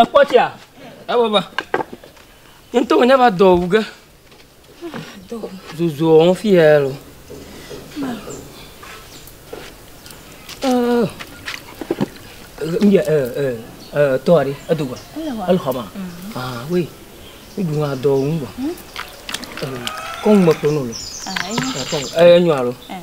Ekpɔ tsia? Ewo ba. Ŋutɔ wònye va dɔ wu ge. Zuzu wɔm fi ya lo. Mbia eh eh eh tɔ aɖe edo gba. Ele xɔ ma. Ah oui. Ibu ma dɔ wu gba. Kɔn me kpɔnɔ lo. Ah, eh nyɔ alo. Eh.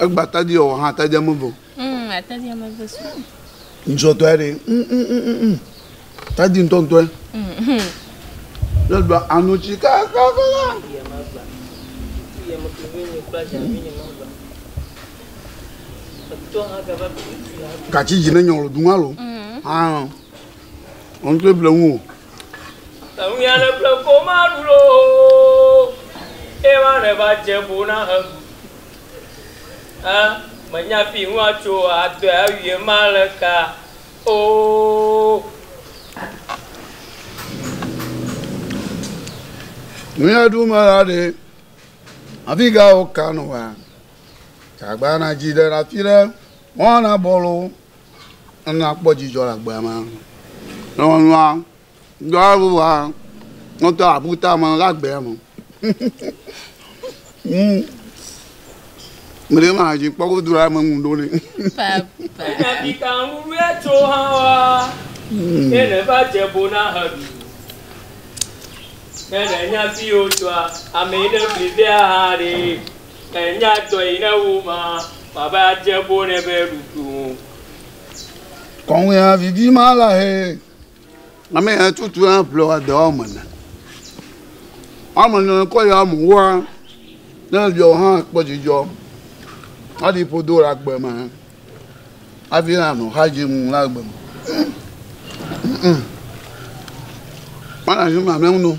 Egba tadi ɔ ha tadi ame ve. Mm, atadi ame ve su. Ŋsɔtɔ ya ɖe. Mm, mm, mm, mm, mm. Tadi ŋtɔŋtɔ ya. Mm. Le ɖua anotsi kakakaka. Katsi dzi ne nyɔlɔ dun alo. Mm. Ah. Ɔn tó eble ŋu o. Eŋunya le ƒle ko maɖu ɖo ema ne va dze bo na heɖu ɛ menya fi ŋu atso adɔe awi ema le ka oo. Nuya ɖu me la ɖe afi ga wo ka nɔ wa? Tagba na dzi ɖe afi ɖe mɔ na bɔlo. Nyɔnua kpɔ dzidzɔ le agbea me. Nyɔnua dɔ aɖe va nɔte aƒuta me le agbea me. Hmm. Mele ma dzi kpɔ godo la me ŋu ɖo ne. Papa. Kapita ŋuɖoe tso hã wa. Hmm. Ne ne va dze bo na he ɖu. Ne ne nya fi o tsoa, ame yi ne fli vea ha ɖe. Enya dɔ yi ne wo ma ma be adze bo ne be ɖuɖu ŋu. Kɔŋwea vivi ma la he. Ame ya tutu na ƒle wa dɔ ame na. Ame na kɔ ya mu wa ne yɔ ha kpɔ jijɔ. Adi podo la gbe ma. Avi na no ha je mu la gbe. Mana shi ma me no.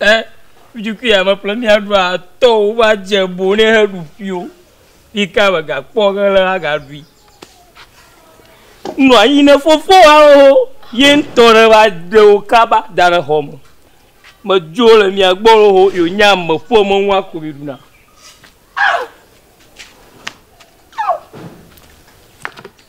E Ŋutsu kple ame ƒle mía ɖu a tɔ wo va dze bo ne he ɖu ƒio. Yi ka me ga kpɔ ge le a ga ɖui. Nua yi ne fofo wa wo ho ye ŋtɔ ɖe va ɖe wo kaba da ɖe xɔ me. Me dzo le mía gbɔ wo ho yo nya me ƒe me ŋua ko mi ɖu na.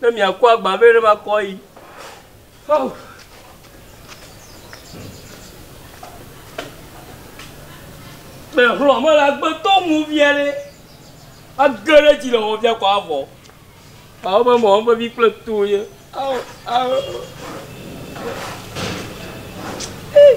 Ne miakɔ agba vɛ ɖe makɔ yi. Oh. Mɛ xlɔ me la gbe to mu via ɖe. Age ɖe dzi le wɔ via kɔ avɔ. Awo be mɔ be vi kple to ye. Awo awo. Hey.